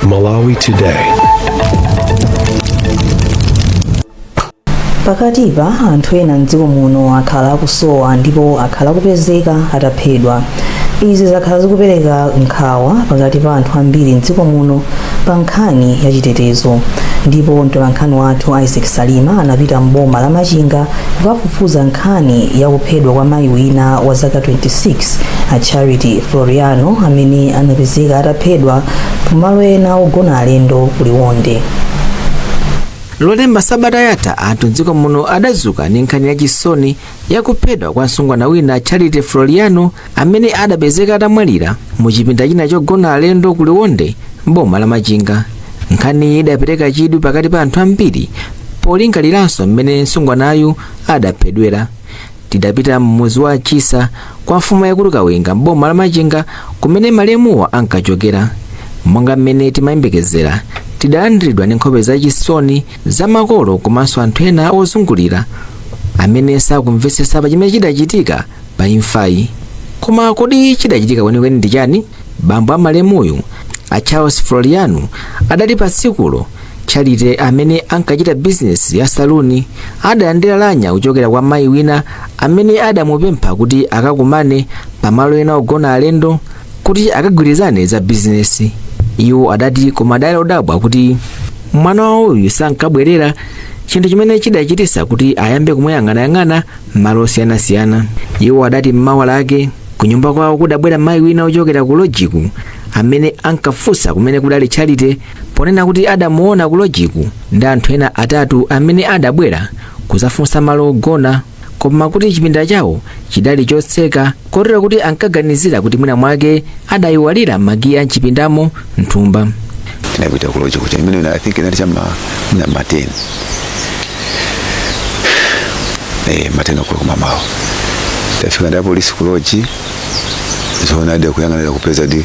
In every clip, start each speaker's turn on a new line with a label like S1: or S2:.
S1: Malawi Today.
S2: pakatipa anthu ena mdziko muno akhala akusowa ndipo akhala akupezeka ataphedwa izi zakhala zikupereka nkhawa pakati pa anthu ambiri mdziko muno pa nkhani ya chitetezo ndipo mtolankhani wathu isaac salima anapita mboma la machinga kukafufuza nkhani ya kuphedwa kwa mayi wina wa zaka 26 a charity floriano amene anapezeka ataphedwa pamalo ena ogona alendo ku
S3: liwonde lolemba sabata yatha anthu mdziko muno adadzuka ndi nkhani yachisoni yakuphedwa kwa msungwana wina charity floriano amene adapezeka atamwalira mu chipinda china chogona alendo ku liwonde mboma la machinga nkhaniyi idapereka chidwi pakati pa anthu ambiri polingaliranso mmene msungwanayu adaphedwera Tidapita m'mudzi wa Chisa kwa mfumu yaikulu Kawinga m'boma la Machinga kumene malemuwa ankachokera. Monga mmene timayembekezera, tidalandiridwa ndi nkhope zachisoni za makolo komanso anthu ena ozungulira amene sakumvetsetsa pa chimene chidachitika pa imfayi. Koma kodi chidachitika kwenikweni ndi chani? Bambo a malemuyu, a Charles Floriano, adati pa tsikulo charity amene ankachita bizinesi ya saluni adalandira lamya kuchokera kwa mayi wina amene adamupempha kuti akakumane pamalo ena ogona alendo kuti akagwirizane za bizinesi iwo adati koma adali odabwa kuti mwana wawoyu sankabwerera chinthu chimene chidachititsa kuti ayambe kumuyang'anayang'ana m'malo osiyanasiyana iwo adati m'mawa lake kunyumba kwawo kudabwera mayi wina ochokera ku lojiku amene ankafunsa kumene kudali charity ponena kuti adamuona ku lojiku ndi anthu ena atatu amene adabwera kudzafunsa malo ogona koma kuti chipinda chawo chidali chotseka kotero kuti ankaganizira kuti mwina mwake adayiwalira makiyi a mchipindamo mthumba tinapita
S4: ku loji kuja imene i think inali cha m'ma mateni eh mateni okoloko kummawa tafika ndi apolisi ku loji zoonadi akuyang'anira kupezadi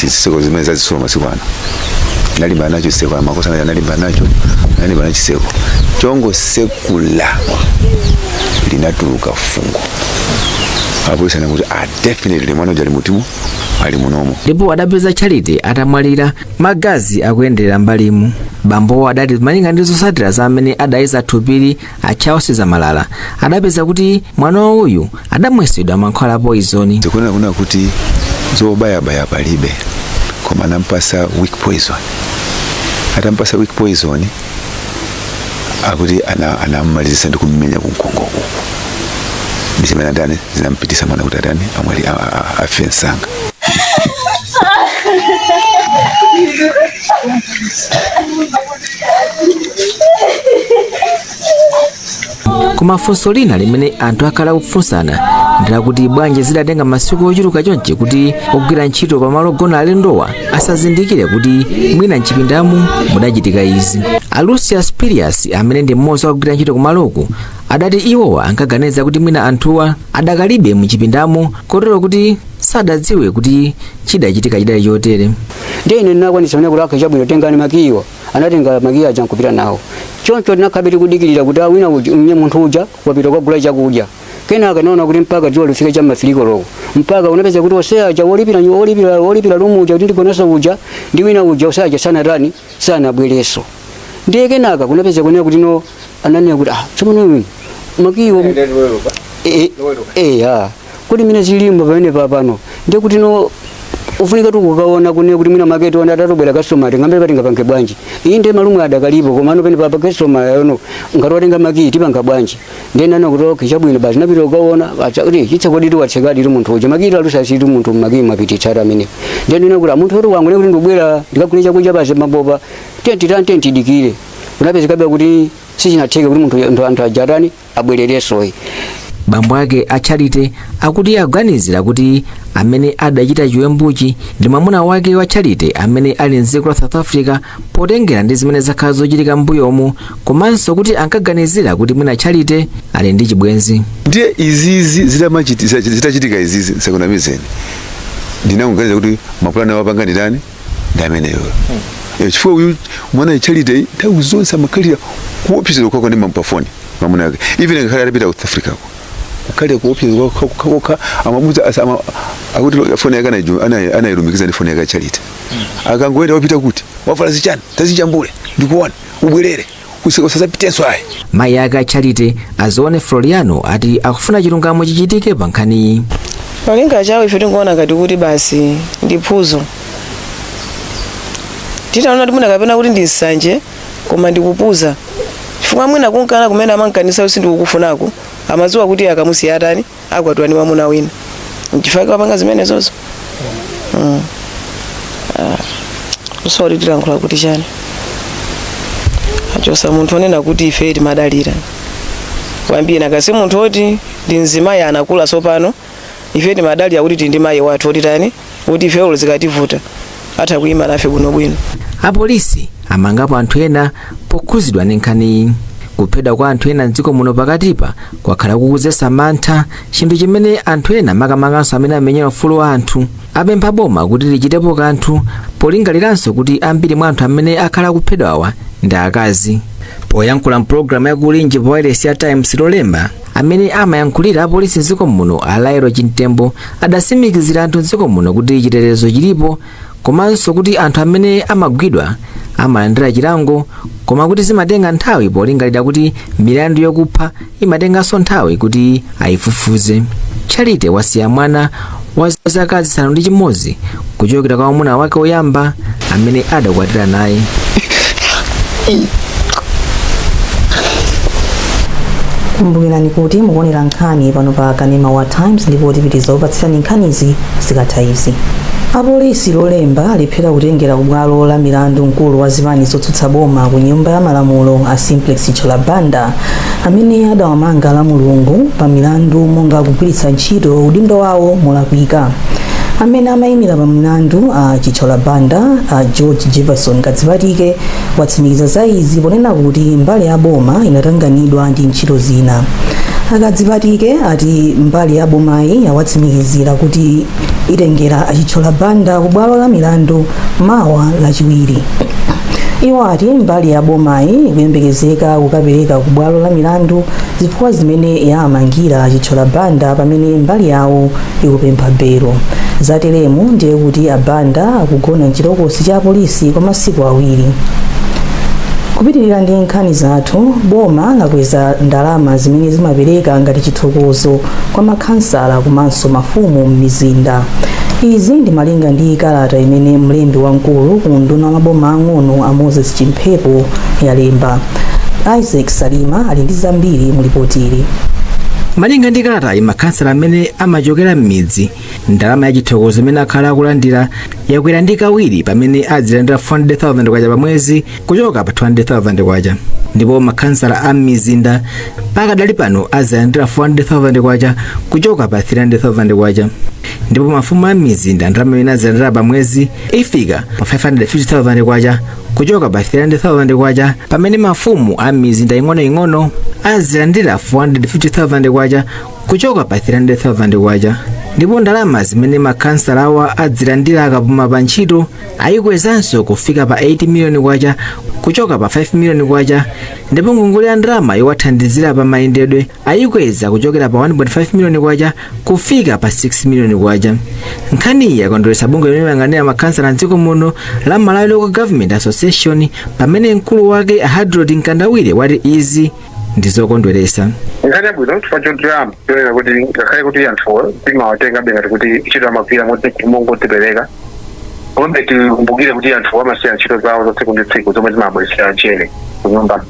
S4: zitseko zimene zazitsulo masiku ano analimbana nacho chitseko amakosa anali analimbana nacho analimbana nacho chitseko chongotsekula linatuluka fungo apolisi ananena kuti ah, definitely mwana uja ali mutimu ali munomo ndipo adapeza
S3: charity atamwalira magazi akuyenderera mbalimu bambowo adati malinga ndi zotsatira za amene adayeza thupili a charles zamalala adapeza kuti mwana wawoyu adamwesedwa mankhwala a poizoni zikuona kunena
S4: kuti zobayabaya palibe koma anampasa weak poison atampasa weak poison akuti ana- anamumalizisa ndi kumumenya kunkhongo uku ndi zimene zinatani zinampitisa mwana kuti atani amwali- a- a- a- afe msanga
S3: koma funso lina limene anthu akhala akufunsana ndilakuti bwanji zidatenga masiku ochuluka chonchi kuti ogwira ntchito pamalo ogona alendowa asazindikire kuti mwina mchipindamu mudachitika izi a lucia spirius amene ndi mmodzi wa ogwira ntchito kumaloku adati iwowa ankaganiza kuti mwina anthuwa adakalibe mchipindamu kotero kuti sadadziwe kuti chidachitika chidali chotere ndiye ine
S5: ndinakwanisa kunena kuti okay chabwino tengani makiyiwa anatenga makiyi aja nkupita nawo choncho tinakhalabe tikudikirira kuti mwina ndiye munthu uja wapita kukagula chakudya kenaka tinaona kuti mpaka dzuwa lifika cha ma three koloko mpaka kunapeza kuti onse aja wolipira nyu- wolipira wolipira lumu uja kuti ndigoneso uja ndi wina uja onse aja sanatani sanabwereso ndiye kenaka kunapeza kunena kuti no ananena kuti ah tsopano uyu makiyiwo Ndani wewe? eh, eh, ah kuti mwina chilimo pamene papano ndiye kuti no kufunikatu kukaona kunena kuti mwina maketi ona atatobwera customer tingambe pa tingapange bwanji iyi ndiye malumu adakalipo koma ano pene papa customer yono ngati watenga makii tipanga bwanji ndiye ndinanena kuti okay chabwino basi napita kukaona acha kuti chitseko ndithu watsekadi tu munthu uja makii talusa situ munthu makii mapititsa ata amene ndiye ndina kuti munthu oti wangoti ndikubwera ndikagule chakudya basi mabopa tenti tiyeni tidikire kunapezekabe kuti sichinatheka kuti munthu anthu aja atani abwerereso ayi
S3: bambo ake a charity akuti akuganizira kuti amene adachita chiwembuchi ndi mwamuna wake wa charity amene ali mdziko la south africa potengera ndi zimene zakhala zochitika m'mbuyomu komanso kuti ankaganizira kuti mwina charity ali ndi chibwenzi ndiye izizi
S4: zitamachiti- zitachitika izizi ndisakunamizeni ndinangoganiza kuti mapulani awapanga ndi ndani ndi ameneyo hmm. eh, chifukwa uyu mwana charity nthawi zonse amakhalira kuopsezedwa kokhakokha ndi mapafoni mamuna ake even ngakhale atapita ku south africako kukhale kuopsezedwa kokhakokha amamuuza akuti foni yake anayilumikiza ndi foni yake charity hmm. akangoyenda wapita kuti wavala zichani tazijambule ndikuone ubwerere usi- usazapitenso ayi mayi ake a
S3: charity azione floriano ati akufuna chilungamo chichitike pa nkhaniyi cholinga chawo
S1: ife tinkaona ngati kuti basi ndi phuzo titaona kuti mwina kapena kuti ndi nsanje koma ndikupuza chifukwa mwina kunkana kumene amankanisa kuti sindikukufunako amadziwa kuti akamusiya atani akwatiwa ndi mwamuna wina nchifukwa wapanga zimenezozo mm. ah. kusiya kuti tilankhula kuti chani achosa munthu onena kuti ife timadalira kwambiri nakasi munthu oti ndi mzimayi anakula sopano ife timadalira kuti tindi mayi wathu oti tani kuti ife olo zikativuta atha kuyima nafe bwinobwino
S3: apolisi amangapo anthu ena pokhuzidwa ndi nkhaniyi kuphedwa kwa anthu ena mdziko muno pakatipa kwakhala kukudzetsa mantha chinthu chimene anthu ena makamakanso amene amenyera ufulu wa anthu apempha boma kuti lichitepo kanthu polingaliranso kuti ambiri mwa anthu amene akhala akuphedwawa ndi akazi poyankhula mpulogalamu ya kulinji pa wailesi ya times lolemba amene amayankhulira apolisi mdziko muno a lael chimtembo adasimikizira anthu mdziko muno kuti chitetezo chilipo komanso kuti anthu amene amagwidwa amalandira chilango koma kuti zimatenga nthawi polingalira kuti milandu yokupha imatenganso nthawi kuti ayifufuze charity wasiya mwana wa zaka zisanu ndi chimodzi kuchokera kwa mwamuna wake woyamba amene adakwatira
S2: naye kumbukirani kuti mukuonera nkhani pano pa kanema wa times ndipo tipitiriza kupatsirani nkhanizi zikatha izi apolisi lolemba alephera kutengera kubwalo la milandu mkulu wa zipani zotsutsa boma ku nyumba ya malamulo a simplex chithyola banda amene adawamanga lamulungu pa milandu monga kugwiritsa ntchito udindo wawo molakwika amene amayimira pa milandu a chithyola banda a george jefferson kadzipatike watsimikiza za izi ponena kuti mbali ya boma inatanganidwa ndi ntchito zina a kadzipatike ati mbali ya bomayi yawatsimikizira kuti itengera a chithyola banda ku bwalo la milandu mawa lachiwiri iwo ati mbali ya bomayi ikuyembekezeka kukapereka ku bwalo la milandu zifukwa zimene yawamangira a chithyola banda pamene mbali yawo ikupempha belo zateremu ndiye kuti a banda akugona mchitokosi cha polisi kwa masiku awiri kupitirira ndi nkhani zathu boma lakweza ndalama zimene zimapereka ngati chithokozo kwa makhansala komanso mafumu m'mizinda izi ndi malinga ndi kalata imene mlembi wamkulu ku unduna wa maboma ang'ono a moses chimphepo alemba isaac salima ali ndi zambiri mu lipotili
S3: malinga ndi kalatayi makhansala amene amachokera m'midzi ndalama ya chithokozo imene akhala akulandira yakwera ndi kawiri pamene adzilandira 400,000 kwacha pa mwezi kuchoka pa 200,000 kwacha ndipo makhansala a m'mizinda pakadali pano azilandira 400,000 kwacha kuchoka pa 300,000 kwacha ndipo mafumu a m'mizinda ndalama imene azilandira pa mwezi ifika pa 550,000 kwacha kuchoka pa 300,000 kwacha pamene mafumu a m'mizinda ing'onoing'ono azilandira 450,000 kwacha kuchoka pa 300,000 kwacha ndipo ndalama zimene makhansalawa azilandira akapuma pa ntchito ayikwezanso kufika pa 8 miliyoni kwacha kuchoka pa 5 miliyoni kwacha ndipo ngongole ya ndalama yowathandizira pa mayendedwe ayikweza kuchokera pa 1.5 miliyoni kwacha kufika pa 6 miliyoni kwacha nkhaniyi yakondweretsa bungwe limene limayang'anira makhansala mdziko muno la malawi local government association pamene mkulu wake a hadrod mkandawire wati izi ndi zokondweretsa nkhani yabwino
S6: chifukwa chotilimbikitsa chonena kuti ngakhale kuti anthuwo timawatengabe ngati kuti ntchito amagwira mongodzipereka komabe tikumbukire kuti anthuwa amasiya ntchito zawo za tsiku ndi tsiku zomwe zimabweretsera mchere kunyumba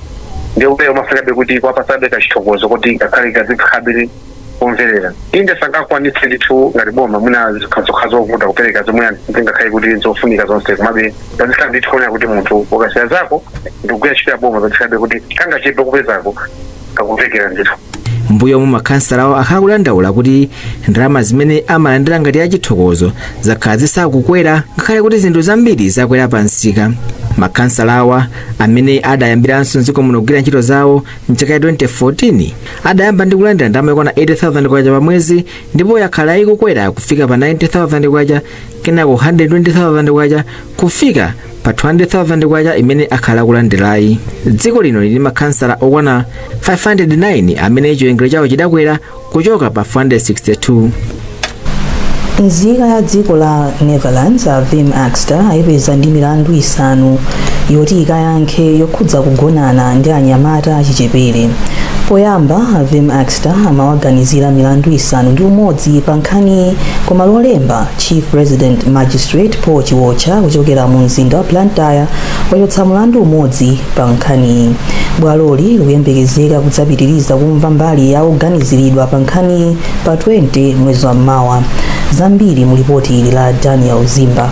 S6: ndiye kuti umafunikabe kuti kuwapatsabe kachithokozo kuti ngakhale kazikhabe kumverera inde sangakwanitse ndithu ngati boma mwina zikhazokha zovuta kupereka zomwe zingakhale kuti zofunika zonse komabe pazikhala ndithu kuonera kuti munthu ukasiya zako ndikugwira ntchito ya boma pazikhalabe kuti kangachepe kupezako kakumvekera
S3: ndithu m'mbuyomu makhansalawa akhala akudandaula kuti ndalama zimene amalandira ngati achithokozo zakhala zisakukwera ngakhale kuti zinthu zambiri zakwera pa msika makhansalawa amene adayambiranso mdziko muno kugwira ntchito zawo mchaka cha 2014 adayamba ndi kulandira ndalama yokwana 80000 kwacha pa mwezi ndipo yakhala ikukwera kufika pa 90000 kwacha kenako 120000 kwacha kufika pa 200,000 kwacha imene akhala akulandirayi dziko lino lili ndi makhansala okwana 509 amene chiwerengero chawo chidakwera kuchoka pa
S2: 462 nzika ya dziko la netherlands a wim akster ayipeza ndi milandu isanu yoti ikayankhe yokhudza kugonana ndi anyamata achichepere poyamba a wim akster amawaganizira milandu isanu ndi umodzi pa nkhaniyi koma lolemba Chief Resident Magistrate Paul Chiwotcha kuchokera mu mzinda wa Blantyre wachotsa mlandu umodzi pa nkhaniyi. Bwaloli likuyembekezeka kudzapitiriza kumva mbali ya oganiziridwa pa nkhaniyi pa 20 mwezi wa mawa. Zambiri mu lipoti ili la Daniel Zimba.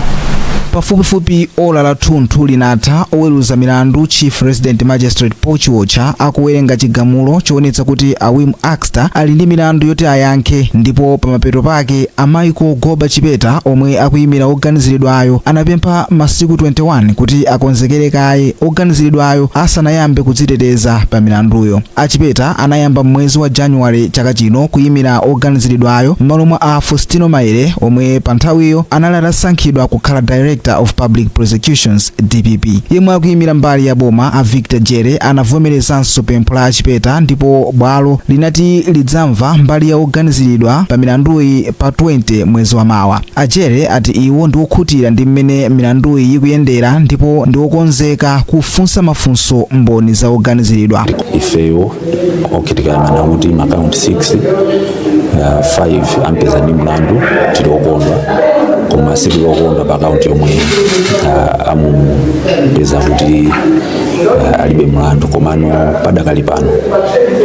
S7: pafupifupi ola lathunthu linatha oweruza milandu chief resident magistrate paul chiwotcha akuwerenga chigamulo choonetsa kuti a wim aks ter ali ndi milandu yoti ayankhe ndipo pamapeto pake a Michael Goba Chipeta omwe akuyimira oganiziridwayo anapempha masiku 21 kuti akonzekere kaye oganiziridwayo asanayambe kudziteteza pa milanduyo. A Chipeta anayamba m'mwezi wa January chaka chino kuyimira oganiziridwayo m'malo mwa a Fostino Maele omwe pa nthawiyo anali atasankhidwa kukhala Director of Public Prosecutions. Dpp. Yemwe akuyimira mbali ya boma a Victor Jere anavomerezanso pempho la a Chipeta ndipo bwalo linati lidzamva mbali ya oganiziridwa pa milanduyi pa 20 mwezi wa mawa. A Jere ati iwo ndi okhutira ndi mmene milanduyi ikuyendera ndipo ndi okonzeka kufunsa mafunso mboni za oganiziridwa. ifeyo
S8: okay tikayang'ana kuti makaunti 6 uh, 5 ampeza ndi mlandu tili okondwa koma sitili okondwa pa akaunti yomwe uh, amupeza kuti uh, alibe mlandu komano padakali pano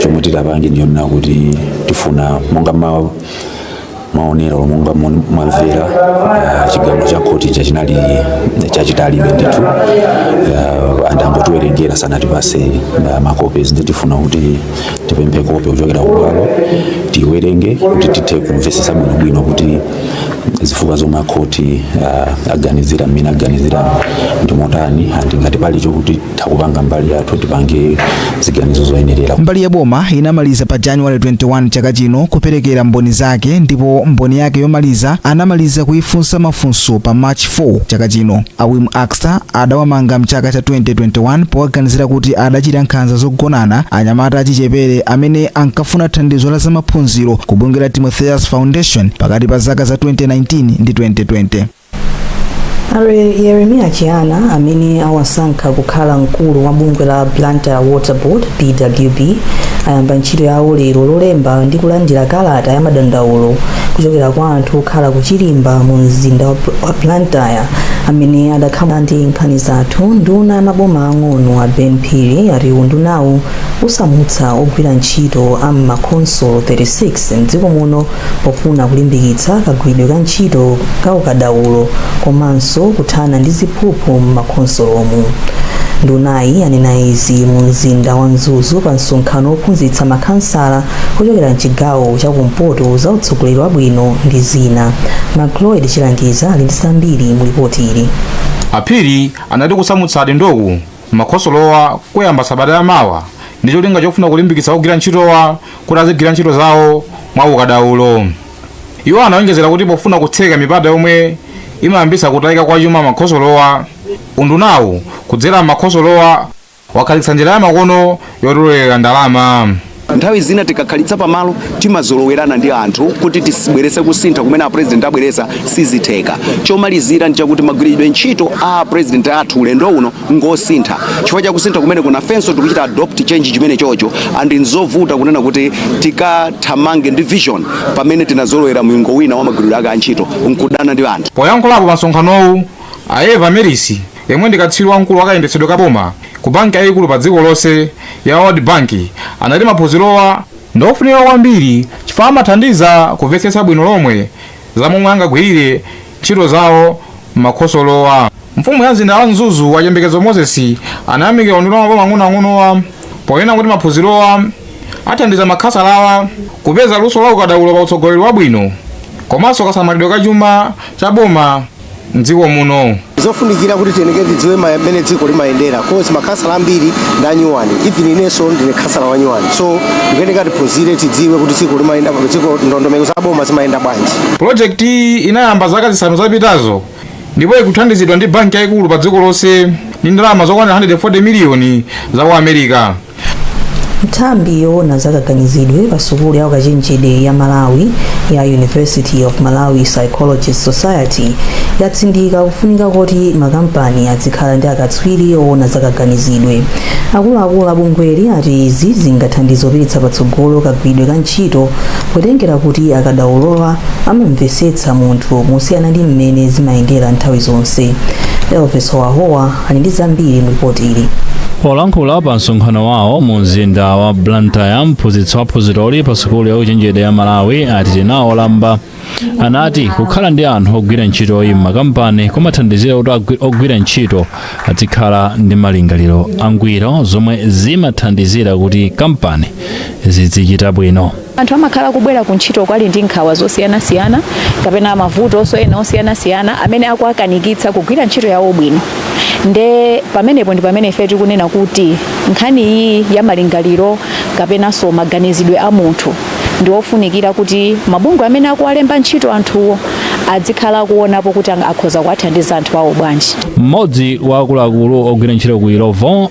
S8: chomwe titapange ndi chonena kuti tifuna monga ma maonero monga mwamvera eh, chigamulo cha khoti cha chinali chachitalibe ndithu eh, andangotiwerengera sanatipase eh, makope ndiye tifuna kuti tipemphe kope kuchokera kubwalo tiwerenge kuti tithe kumvesesa bwinobwino kuti zifukwa zomwe akhoti aganizira mmene aganizira ndi motani andi ngati pali chokuti takupanga mbali yathu tipange ziganizo zoyenerera mbali ya
S7: boma inamaliza pa january 21 chaka chino kuperekera mboni zake ndipo mboni yake yomaliza anamaliza kuifunsa mafunso pa march 4 chaka chino a Wim Akster adawamanga mchaka cha 2021 powaganizira kuti adachita nkhanza zogonana ndi anyamata achichepere amene ankafuna thandizo la zamaphunziro kubungwe la timotheos foundation pakati pa zaka za 2019 ndi 2020 A
S2: Yeremiya Chihana amene awasankha kukhala mkulu wa bungwe la Blantyre Water Board BWB ayamba ntchito yawo lero lolemba ndi kulandira kalata ya madandaulo kuchokera kwa anthu okhala ku Chilimba mu mzinda wa Bl- wa Blantyre amene adakhala ndi nkhani zathu nduna ya maboma ang'ono a Ben Phiri ati undunawu usamutsa ogwira ntchito a m'makhonsolo 36 mdziko muno pofuna kulimbikitsa kagwiridwe ka ntchito ka ukadaulo komanso kuthana ndi ziphuphu m'makhonsolomu ndunayi yanena izi mu mzinda wa mzuzu pa msonkhano wophunzitsa makhansala kuchokera mchigawo cha kumpoto za utsogoleri wabwino ndi zina macloid chilangiza ali ndi zambiri mu lipoti ili a
S9: phiri anati kusamutsa adindoku m'makhonsolowa kuyamba sabata yamawa ndi cholinga chofuna kulimbikitsa ogwira ntchitowa kuti azigwira ntchito zawo mwaukadaulo iwo anawonjezera kuti pofuna kutseka mipata yomwe imayambitsa kutayika kwa chuma m'makhonsolowa undunawu kudzera m'makhonsolowa wakhazikitsa njira ya makono yotolera ndalama nthawi
S10: zina tikakhalitsa pamalo timazolowerana ndi anthu kuti tisibwerese kusintha kumene a president abweresa sizitheka chomalizira ndichakuti magwiridwe ntchito a president athu ulendo uno ngosintha chifukwa cha kusintha kumene kunoko ifenso tikuchita adopt change chimene chocho and nzovuta kunena kuti tikathamange ndi vision pamene tinazolowera mulingo wina wa magwiridwe ake a ntchito nkuonana ndi anthu poyankhulapo pa msonkhanowu
S9: a eva merisi yemwe ndi katswiri wamkulu wa kayendetsedwe ka boma ku banki yayikulu pa dziko lonse ya world bank anati maphunzirowa ndi ofunika kwambiri chifukwa amathandiza kumvetsetsa bwino lomwe za momwe angagwirire ntchito zawo m'makhonsolomu. Mfumu ya mzinda wa Mzuzu a Chiyembekezo Moses anayamikira unduna wa maboma ang'onoang'onowa ponena kuti maphunzirowa athandiza makhasalawa kupeza luso la ukadaulo pa utsogoleri wabwino komanso kasamalidwe ka chuma cha boma m'dziko muno. Ndi zofunikira
S11: kuti tiyenekere tidziwe mmene dziko limayendera coz makhasala ambiri ndi anyuwani even inenso ndine khasala wanyuwani so ndikuyeneka tiphunzire tidziwe kuti dziko limayenda dziko ndondomeko za boma zimayenda bwanji
S9: Pulojekitiyi inayamba zaka zisanu zapitazo ndipo ikuthandizidwa ndi banki yaikulu padziko lonse ndi ndalama zokwanira 140 miliyoni za ku America. Nthambi
S2: yoona za kaganizidwe pa sukulu ya ukachenjede ya Malawi ya University of Malawi Psychology Society yatsindika kufunika koti makampani azikhala ndi akatswiri oona za kaganizidwe. Akuluakulu a bungweli ati izi zingathandize kupititsa patsogolo kagwiridwe ka ntchito potengera kuti akadaulowa amamvesetsa munthu mosiyana ndi mmene zimayendera nthawi zonse elvis howahowa ali ndi zambiri mu lipoti ili polankhula pa
S12: msonkhano wawo mu mzinda wa blantyre mphunzitsi wa phunziroli pa sukulu ya ukachenjede ya malawi a tinawo lamba anati kukhala ndi anthu ogwira ntchitoyi m'makampani kumathandizira kuti ogwira ntchito azikhala ndi malingaliro angwiro zomwe zimathandizira kuti kampani zidzichita bwino anthu amakhala
S13: kubwera ku ntchito ali ndi nkhawa zosiyanasiyana kapena mavutonso ena osiyanasiyana amene akuwakanikitsa kugwira ntchito yawo bwino nde pamenepo ndi pamene ife tikunena kuti nkhani iyi ya malingaliro kapenanso maganizidwe a munthu ndi ofunikira kuti mabungwe amene akuwalemba ntchito anthuwo adzikhala kuonapo kuti akhoza kuwathandiza anthu awo bwanji mmodzi wa
S12: akuluakulu ogwira ntchito ku illovo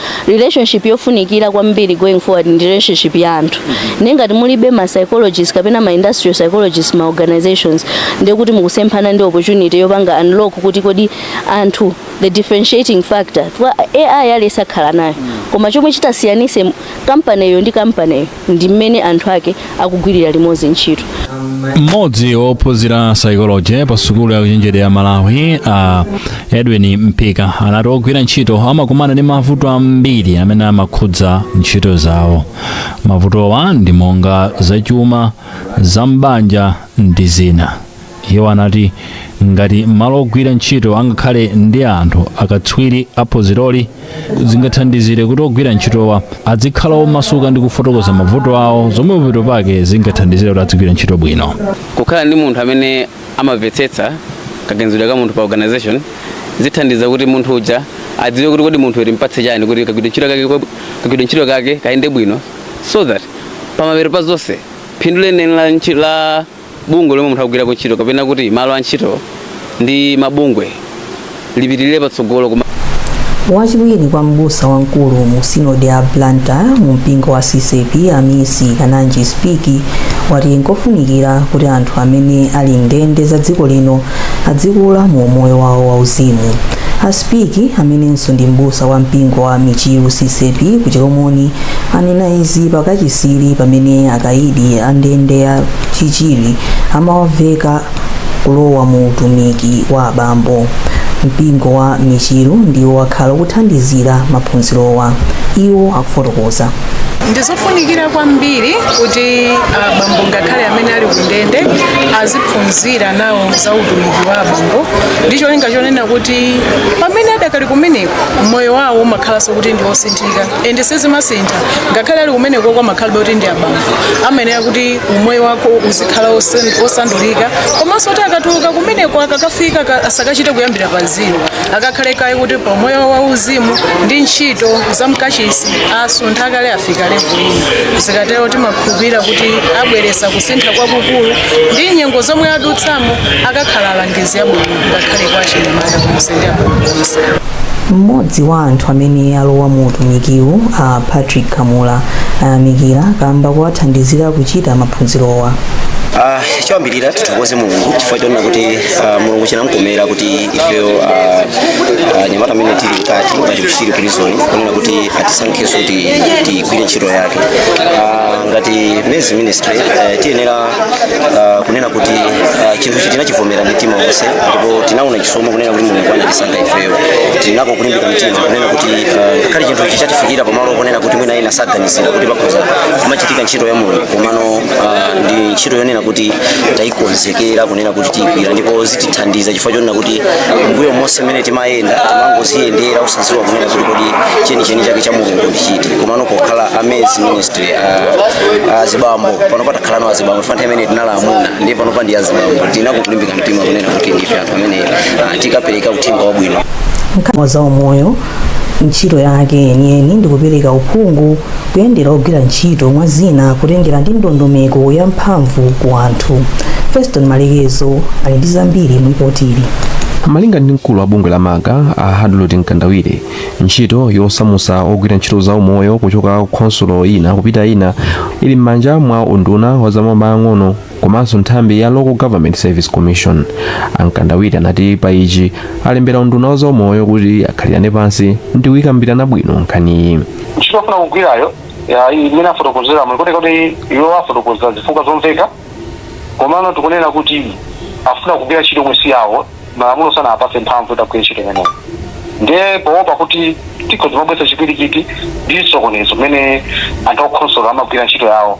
S14: relationship yofunikira kwambiri going forward ndi relationship ya anthu nde ngati mulibe ma psychologists kapena ma industrial psychologists m'ma organizations ndekuti mukusemphana ndi opportunity yopanga unlock kuti kodi anthu the differentiating factor chifukwa AI aliyense akhala nayo koma chomwe chitasiyanise kampaniyo ndi kampaniyo ndi mmene anthu ake akugwirira limodzi ntchito
S12: mmodzi wophunzira psychology pa sukulu ya ukachenjede ya malawi a edwin mpika anati ogwira ntchito amakumana ndi mavuto ambiri amene amakhudza ntchito zawo mavutowa ndi monga zachuma za m'banja ndi zina iwo anati ngati m'malo ogwira ntchito angakhale ndi anthu akatswiri a phunziroli zingathandizire kuti ogwira ntchitowa adzikhala omasuka ndi kufotokoza mavuto awo zomwe pamapeto pake zingathandizire kuti adzigwira ntchito bwino kukhala ndi
S15: munthu amene amamvetsetsa kaganizidwe ka munthu pa organization zithandiza kuti munthu uja adziwe kuti kodi munthuyu timpatse chani kuti kagwidwe ntchito kake kwa- kagwidwe ntchito kake kayende bwino so that pamapeto pa zonse phindu lenileni la ntchi- la bungwe lomwe munthu akugwirako ntchito kapena kuti malo a ntchito ndi mabungwe lipitirire patsogolo wachiwiri
S2: kwa mbusa wamkulu mu sinodi ya blantyre mu mpingo wa ccap amisi kananji spiki wati nkofunikira kuti anthu amene ali m'ndende za dziko lino adzikula mu umoyo wawo wauzimu a spiki amenenso ndi m'busa wa mpingo wa michiru ccap ku chilomoni anena izi pa kachisiyi pamene akaidi a ndende ya chichiri amawaveka kulowa mu utumiki wa abambo mpingo wa michiru ndiwo wakhala ukuthandizira maphunzirowa iwo akufotokoza ndizofunikira
S16: kwambiri kuti abambo ngakhale amene ali kundende aziphunzira phunzira nawo za utumiki wa abambo ndi cholinga chonena kuti pamene adakali kumeneko moyo wawo umakhalanso kuti ndi osinthika ende sizimasintha ngakhale ali kumeneko amakhalabe kuti ndi abambo amayenera kuti umoyo wako uzikhala osan- osandulika komanso kuti akatuluka kumeneko akakafika ka- asakachite kuyambira pa zero akakhale kaye kuti pa moyo wauzimu ndi ntchito za mkachisi asuntha kale afika level ino zikatero timakhulupirira kuti abweretsa kusintha kwakukulu ndi nyengo zomwe adutsamo akakhala alangizi abwino ngakhale kwa achinyamata konse ndi abwino konse
S2: mmodzi wa anthu amene alowa mu utumikiwu a patrick kamula ayamikira kamba kowathandizira kuchita maphunzirowa Ah,
S17: choyambirira tithokoze mulungu chifukwa chonena kuti ah, mulungu chinamkomera kuti ifeyo ah, anyamata amene tili mkati ngati ku chichiri prison kunena kuti atisankhenso kuti tigwire ntchito yake Ah, ngati men's ministry eh, tiyenera ah, kunena kuti ah, chinthu ichi tinachivomera ndi mtima wonse ndipo tinaona chisomo kunena kuti mulungu anatisankha ifeyo tili nako kulimbika mtima kunena kuti ah, ngakhale chinthu ichi chatifikira pamalo ponena kuti mwina ena saganizira kuti pakhoza kumachitika ntchito ya mulungu komano ah, ndi ntchito yonena kuti tayikonzekera nena kuti tiyigwira ndipo zitithandiza chifukwa chonena kuti m'mbuyo monse mmene timayenda timangoziyendera osadziwa kunena kuti kodi chenicheni chake cha mulungu ndi chiti komano pokhala a men's ministry a- azibambo panopa takhalano azibambo chifukwa nthawi imene tinali amuna ndiye panopa ndi azibambo tili nako kulimbika mtima kunena kuti ndife anthu amene ah, tikapereka uthenga wabwino nkhani za
S2: umoyo ntchito yake yeniyeni ndi kupereka uphungu kuyendera ogwira ntchito mwa zina kutengera ndi ndondomeko ya mphamvu ku anthu feston malekezo ali ndi zambiri mu lipotili malinga ndi
S18: mkulu wa bungwe la maga a hadlot mkandawire ntchito yosamusa ogwira ntchito za umoyo kuchoka ku khonsolo ina kupita ina ili m'manja mwa unduna wa zamaboma ang'ono komanso nthambi ya local government service commission amkandawire anati pa ichi alembera unduna wa zaumoyo kuti akhalirane pansi ndi kuyikambirana bwino nkhaniyi ntchito afuna kugwirayo
S6: ya iyi imene afotokozera mulikuti kuti iwo afotokoza zifukwa zomveka komano tikunena kuti afuna kugwira ntchito yomwe si yawo malamulo sanawapatse mphamvu yoti agwire ntchito imeneyo ndiye poopa kuti tikhoza kumabweresa chipwirikiti ndi chisokonezo mmene anthu a kukhonsolo amagwira ntchito yawo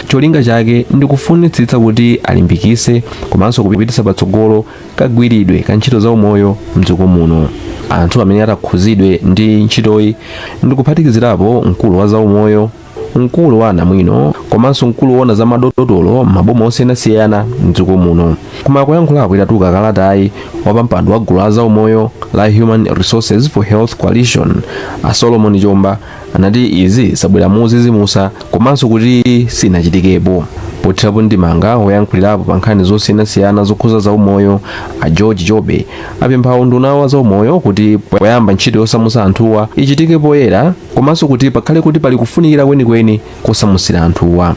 S18: Cholinga chake ndi kufunitsitsa kuti alimbikitse komanso kupititsa patsogolo kagwiridwe ka ntchito za umoyo mdziko muno. Anthu amene atakhuzidwe ndi ntchitoyi ndi kuphatikizirapo mkulu wa za umoyo, mkulu wa anamwino komanso mkulu woona za madotolo m'maboma osiyanasiyana mdziko muno. Koma poyankhulapo itatuluka kalatayi, wapampando wa gulu la za umoyo la Human Resources for Health Coalition, a Solomon Chomba, anati izi zabwera modzidzimutsa komanso kuti sinachitikepo pothirapo ndemanga woyankhulirapo pa nkhani zosiyanasiyana zokhuza zaumoyo a george jobe apempha unduna wa zaumoyo kuti poyamba ntchito yosamutsa anthuwa ichitike poyera komanso kuti pakhale kuti pali kufunikira kwenikweni kosamutsira anthuwa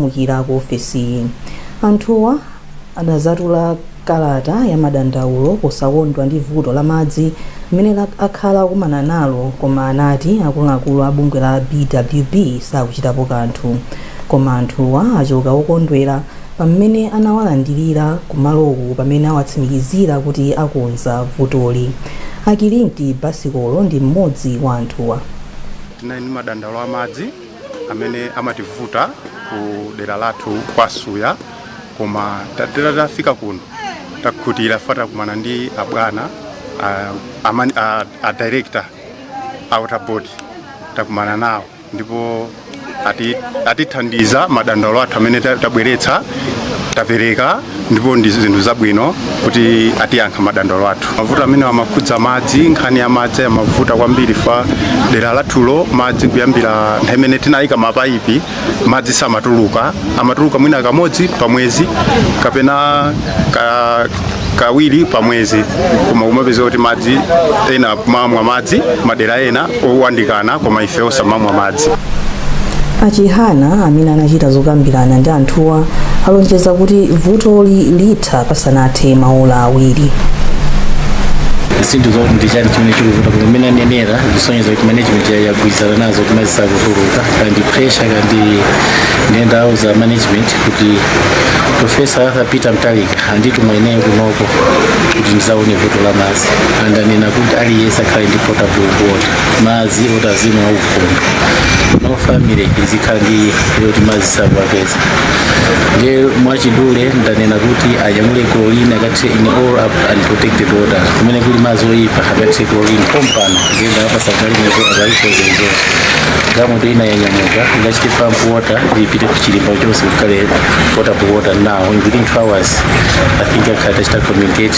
S18: mu
S2: ukira ku ofesiyi anthuwa anazatula Kalata ya madandaulo posakondwa ndi vuto la madzi mmene akhala akumana nalo koma anati akuluakulu a bungwe la BWB sakuchitapo kanthu. Koma anthuwa achoka okondwera pa mmene anawalandirira ku maloku pamene awatsimikizira kuti akonza vutoli. A Kilinti Basikolo ndi mmodzi wa anthuwa. Tinali ndi
S19: madandaulo a madzi amene amativuta ku dera lathu kwa suya koma titero tafika kuno takhutira fa takumana ndi abwana a, amani- a, a director a water board takumana nawo ndipo ati- atithandiza madandaulo athu amene ta- tabweretsa tapereka ndipo ndi zinthu zabwino kuti atiyankha madandaulo athu mavuto amene amakhudza madzi nkhani ya madzi imavuta kwambiri fa dera lathulo madzi kuyambira nthawi imene tinayika mapayipi madzi samatuluka amatuluka mwina kamodzi pa mwezi kapena ka, kawiri pa mwezi koma kumapeza kuti madzi ena amamwa madzi madera ena owandikana koma ife osamamwa madzi
S2: a chihana amene anachita zokambirana ndi anthuwa alonjeza kuti vutoli litha pasanathe maola awiri
S20: zinthu zoti ndichani chimene chikuvuta koma mmene anenera zisonyeza kuti management ya- yagwirizana nazo koma madzi sakutuluka kamba pressure kamba nde ndawauza management kuti profesa arthur peter mutharika andituma ineyo kunoko kuti ndizaone vuto la madzi andanena kuti aliyense akhale ndi potable water madzi oti azimwa aukhondo no family izikhala ndi kuti madzi sakuwapeza nde mwachidule ndanena kuti anyamule chlorine akathire in all unprotected water kumene kuli madzi oyipa akathire chlorine pompano ngenda apatsa galimoto akalikonzekera galimoto ina yanyamuka ikachite pump water ipite kuchilimba chonse kukhale potable water now in within 2 hours i think akhala tachita communicate